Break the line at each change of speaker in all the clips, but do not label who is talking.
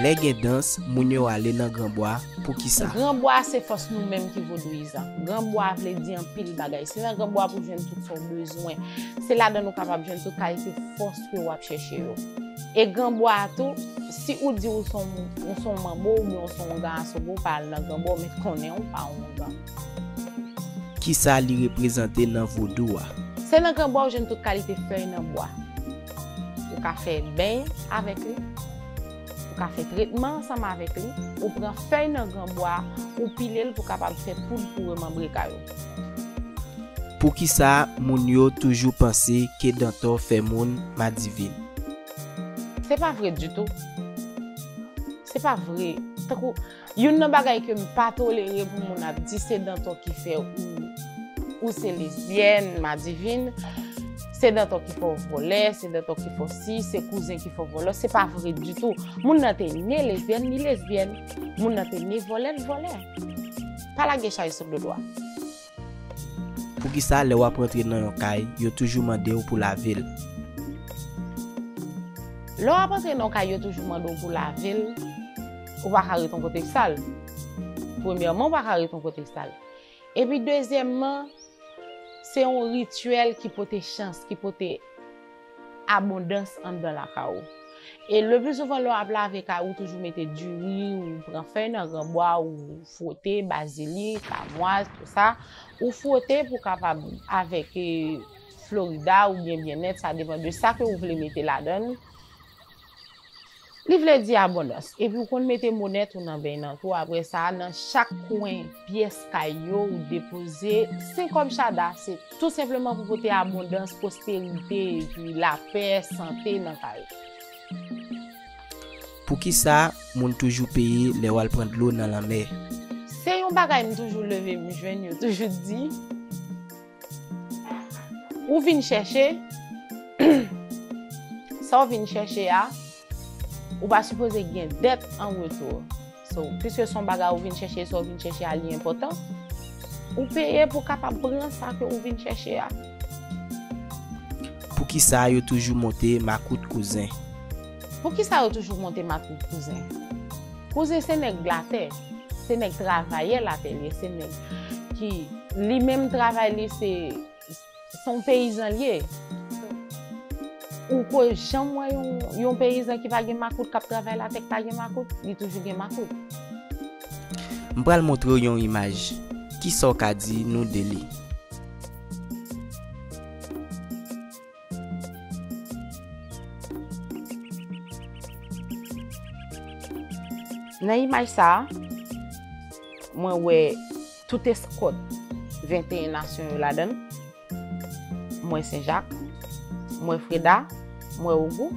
Lè gen dans, moun yo ale nan gran bwa, poukisa? Gran bwa a se fòs nou
menm ki vodouyizan. Gran bwa a vle di anpil bagay. Se nan gran bwa pou jwenn tout sa w bezwen. Se ladan l ou kapab jwenn tout kalite fòs ke w ap chèche yo. E gran bwa a tou. Si ou di ou son ou son manbo oubyen ou son ongan asobo pa al nan ganba met konnen ou pa ongan.
Kisa li reprezante nan vodou a? Se nan ganba
ou jwenn tout kalite fèy nan bwa. Ou ka fè beny avèk li, ou ka fè tretman ansanm avèk li, ou pran fèy nan ganba a ou pile l pou kapab fè poud pou remanbre kay ou.
Poukisa moun yo toujou panse ke dantò fè moun madivin?
Se pa vre ditou. Se pa vre. Tankou, youn nan bagay ke m pa tolere pou moun ap di se Danton ki fè ou se lesbyèn, madivin, se Danton ki fè ou vòlè, se Danton ki fè ou si, se kouzen ki fè ou vòlò, se pa vre ditou. Moun nan te ne lesbyèn, li lesbyèn. Moun nan te ne vòlè, li vòlè. Pa lage chay sou do dwa.
Poukisa lè wap rantre nan yon kay yo toujou mandew pou lavel?
Lè wap antre nan yon kay yo toujou mande w pou lavel, ou pa ka ret yon kote k sal. Premyèman ou pa ka ret yon kote k sal. Epi dezyèmman se yon rityèl ki pote chans, ki pote. abondans anndan lakay ou e le plus souvent lè w ap lave kay ou toujou mete diri ou pran fèy nan granbwa ou fwote bazilik amwaz tout sa ou fwote pou kapab avèk florida ou byen byenèt sa depan de sa ke ou vle mete ladann. Li vle di abondans. Epi ou konn mete monèt ou nan beny nan tou apre sa nan chak kwen pyès kay yo ou depoze 5 kòb chada se tou senpleman pou pote abondans, pwosperite epi lapè, sante nan kay ou.
Poukisa moun toujou peye lè wal pran dlo nan lanmè? Se yon bagay
m toujou leve m jwenn yo toujou di. Ou vin chèche, sa ou vin chèche a, ou pa sipoze gen dèt an retou. So, piske son bagay ou vin chèche, sa ou vin chèche a li enpòtan, ou peye pou kapab pran sa ke ou vin chèche a.
Poukisa yo toujou monte makout kouzen? Poukisa
yo toujou monte makout kouzen? Kouzen se nèg latè, se nèg travayè latè li ye, se nèg ki li menm travay li se son peyizan li ye. Ou ko janm wè yon peyizan ki pa gen makout kap travay latè ki pa gen makout? Li toujou gen makout.
M pral montre w yon imaj. Kisa w ka di nou de li?
Nan imaj sa, mwen wè tout eskòt 21 nasyon yo ladan. Mwen Senjak, mwen Freda, mwen Ogou,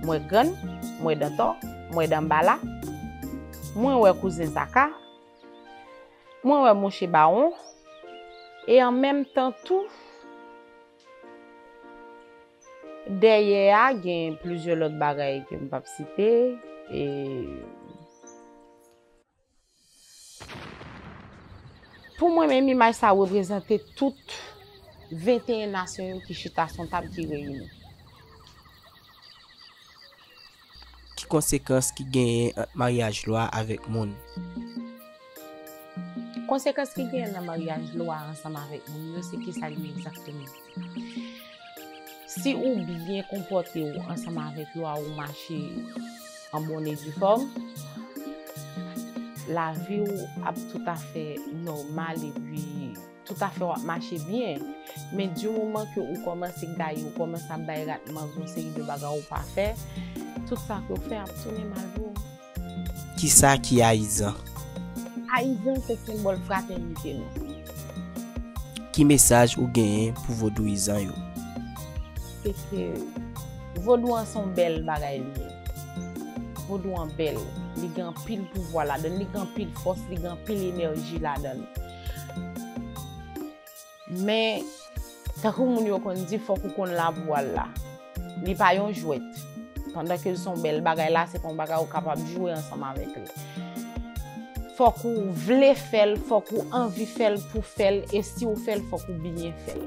mwen Grann, mwen Dantò, mwen Danbala, mwen wè kouzen Zaka, mwen wè mouche Bawon, e an menm tan tou, Dèyè a gen plizyè lòt bagay ke m pap site e. Pou mwen menm imaj sa reprezante tout 21 nasyon yo ki chita sou yon tab ki reyini.
Ki konsekans ki genyen ant maryaj lwa avèk moun
yo? Konsekans ki genyen nan maryaj lwa ansanm avèk moun yo se kisa li ye egzakteman? Si ou byen konpòte ou ansanm avèk lwa ou mache an bon e di fòm, lavi ou ap toutafè nòmal epi. tout afèw ap mache byen, men di moman ke ou kòmanse gaye, ou kòmanse ap bay rat mango yon seri de bagay ou pa fè, tout sa kew fè ap tounen mal pou ou. Kisa
ki ayizan? Ayizan
se senbòl fratènite nou.
Ki mesaj ou genyen pou vodouyizan yo? Se
ke vodou an son bèl bagay li ye. Vodou an bèl, li gen anpil pouvwa ladann, li gen anpil fòs, li gen anpil enèji ladann. Men, tankou moun yo konn di fòk ou konn labou al la. Li pa yon jwèt. Pandan ke l son bèl bagay la, se pa yon bagay ou kapab jwe ansanm avèk li. Fòk ou vle fè l, fòk ou anvi fè l pou fè l, e si ou fè l, fòk ou byen fè l.